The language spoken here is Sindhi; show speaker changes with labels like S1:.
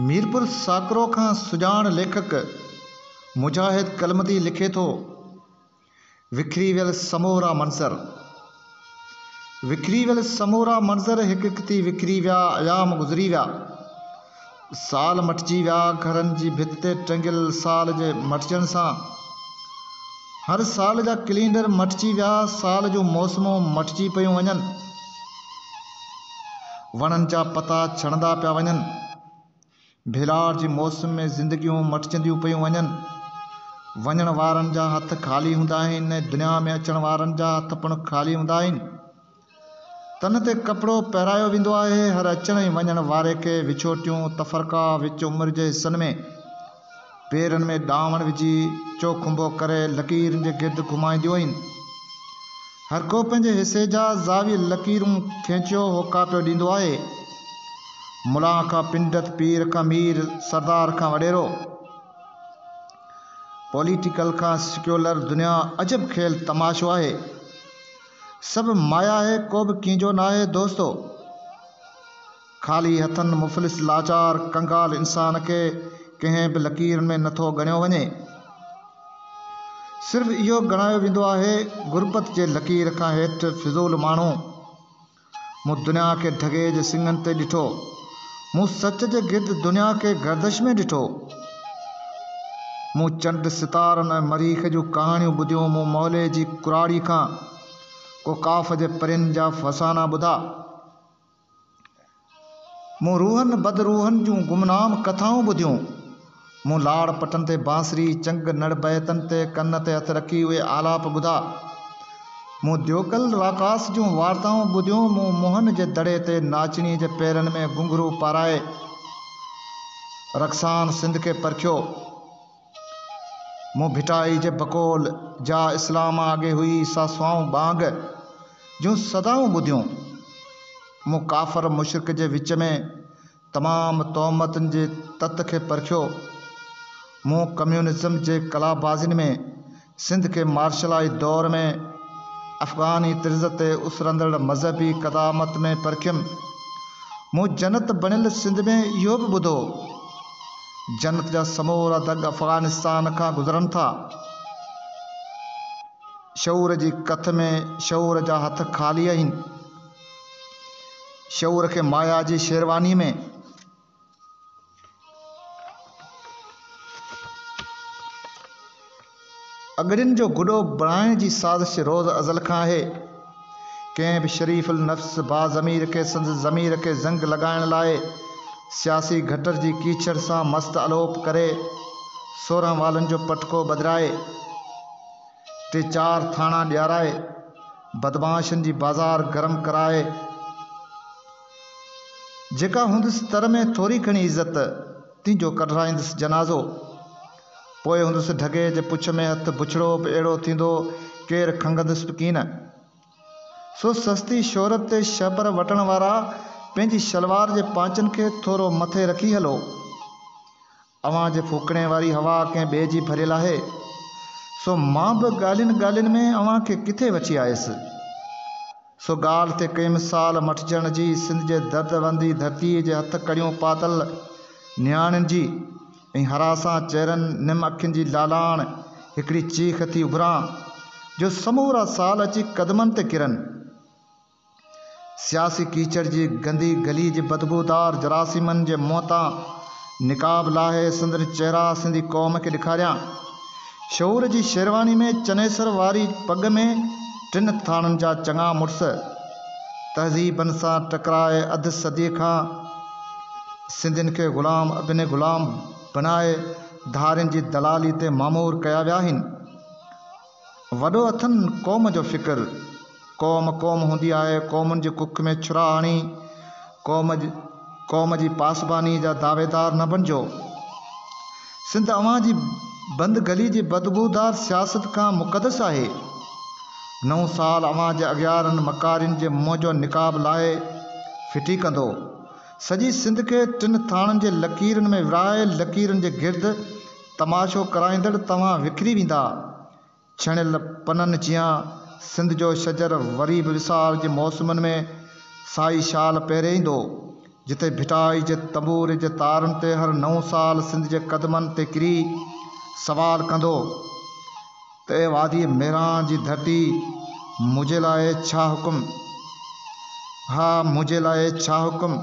S1: ميرپور ساڪرو کان سڄاڻ ليکڪ مجاهد ڪلمتي لکي ٿو، وکري ويل سمورا منظر. وکري ويل سمورا منظر هڪ هڪ ٿي وکري ويا، ايام گذري ويا. سال مٽجي ويا، گهرن جي ڀت تي ٽنگيل سال جي مٽجڻ سان هر سال جا ڪلينڊر مٽجي ويا، سال جون موسمون مٽجي پيون وڃن، وڻن جا پتا ڇڻندا پيا وڃن، ڀيلاڙ جي موسم ۾ زندگيون مٽجنديون پيون وڃن، وڃڻ وارن جا هٿ خالي هوندا آهن ۽ دنيا ۾ اچڻ وارن جا هٿ پڻ خالي هوندا آهن. تن تي ڪپڙو پهرايو ويندو آهي. هر اچڻ ۽ وڃڻ واري کي وڇوٽيون، تفرقا، وچ عمر جي حصن ۾، پيرن ۾ ڏانوڻ وجهي، چوکنڀو ڪري، لڪيرن جي گرد گهمائينديون آهن. هر ڪو پنهنجي حصي جا زاويء لڪيرون کينچيو هوڪا پيو ڏيندو آهي. ملان کان پنڊت، پير کان مير، سردار کان وڏيرو، پوليٽيڪل کان سيڪيولر دنيا عجب کيل تماشو آهي. سڀ مايا آهي ڪو به ڪنهنجو ناهي دوستو خالي هٿن مفلس لاچار ڪنگال انسان کي ڪنهن به لڪير ۾ نٿو ڳڻيو وڃي صرف اهو ڳڻايو ويندو آهي غربت جي لڪير کان هيٺ فضول ماڻهو مون دنيا کي ڍڳي جي سڱن تي ڏٺو. مون سچ جي گرد دنيا کي گردش ۾ ڏٺو. مون چنڊ، ستارن ۽ مريخ جون ڪهاڻيون ٻڌيون. مون موليء جي ڪراڙي کان ڪو قاف جي پرين جا فسانا ٻڌا. مون روحن بد روحن جون گمنام ڪٿائون ٻڌيون. مون لاڙ پٽن تي بانسري، چنگ، نڙ بيتن تي ڪن تي هٿ رکي اهي آلاپ ٻڌا. مون ديوڪل راڪاس جون وارتائون ٻڌيون، مون موهن جي دڙي تي ناچڻي جي پيرن ۾ گهنگهرو پارائي رقصان سنڌ کي پرکيو. مون ڀٽائي جي بقول جا اسلام آگي هئي سا سوائون ٻانگ جون صدائون ٻڌيون. مون ڪافر مشرڪ جي وچ ۾ تمام تهمتن جي تت کي پرکيو. مون ڪميونزم جي قلابازين ۾ سنڌ کي مارشلائي دور ۾ افغاني طرز تي اسرندڙ مذهبي قدامت ۾ پرکيم. مون جنت بڻيل سنڌ ۾ اهو به ٻڌو، جنت جا سمورا دڳ افغانستان کان گذرن ٿا. شعور جي ڪٿ ۾ شعور جا هٿ خالي آهن. شعور کي مايا جي شيرواني ۾. اڳڙين جو گڏو بڻائڻ جي سازش روز ازل کان آهي. ڪنهن به شريف النفس باضمير کي سندس ضمير کي زنگ لڳائڻ لاء سياسي گٽر جي ڪيچڙ سان مست الوپ ڪري، سورهن والن جو پٽڪو ٻڌرائي، ٽي چار ٿاڻا ڏيارائي، بدمعاشن جي بازار گرم ڪرائي، جيڪا هوندس تر ۾ ٿوري گهڻي عزت، تنهن جو ڪڍرائيندس جنازو. پوء هوندس ڍڳي جي پڇ ۾ هٿ بڇڙو به اهڙو ٿيندو ڪير کنگهندس به ڪين. سو سستي شهرت تي شهپر وٽڻ وارا پنهنجي شلوار جي پانچن کي ٿورو مٿي رکي هلو. اوهان جي ڦوڪڻي واري هوا ڪنهن ٻئي جي ڀريل آهي، سو مان به ڳالهين ڳالهين ۾ اوهان کي ڪٿي وٺي آيس. سو ڳالهه تي ڪئين مثال مٺجڻ جي سنڌ جي درد وندي ڌرتيء جي هٿ ڪڙيون پاتل نياڻين جي ۽ هراسان چهرن نم اکين جي لالاڻ هڪڙي چيخ ٿي اڀران جو سمورا سال اچي قدمن تي ڪرن. سياسي ڪيچڙ جي گندي گلي جي بدبودار جراثيمن جي منهن تان نقاب لاهي سندن چهرا سنڌي قوم کي ڏيکاريان. شعور جي شيرواني ۾ چنيسر واري پڳ ۾ ٽن ٿاڻن جا چڱا مڙس تهذيبن سان ٽڪرائي اڌ صدي کان سنڌين کي غلام ابن غلام بنائي ڌارين جي دلالي تي مامور ڪيا ويا آهن. وڏو اٿن قوم جو فڪر، قوم قوم هوندي آهي، قومن جي ڪک ۾ ڇرا هڻي قوم قوم جي پاسباني جا دعويدار نه بڻجو. سنڌ اوهان جي بند گلي جي بدبودار سياست کان مقدس آهي. نئون سال اوهان جي اغيارن مڪارين جي منهن جو نقاب لاهي ڦٽي ڪندو. سڄي سنڌ کي ٽن ٿاڻن جي لڪيرن ۾ ورهائي لڪيرن جي گرد تماشو ڪرائيندڙ توهان وکري ويندا. ڇڻيل پنن جيان سنڌ جو شجر وري به وسار جي موسمن ۾ سائي شال پهري ايندو. جتي ڀٽائي جي تنبوري جي تارن تي هر نئون سال سنڌ جي قدمن تي ڪري سوال ڪندو ته اي وادي ميران جي ڌرتي منهنجي لاء ڇا حڪم ها منهنجي لاء ڇا حڪم.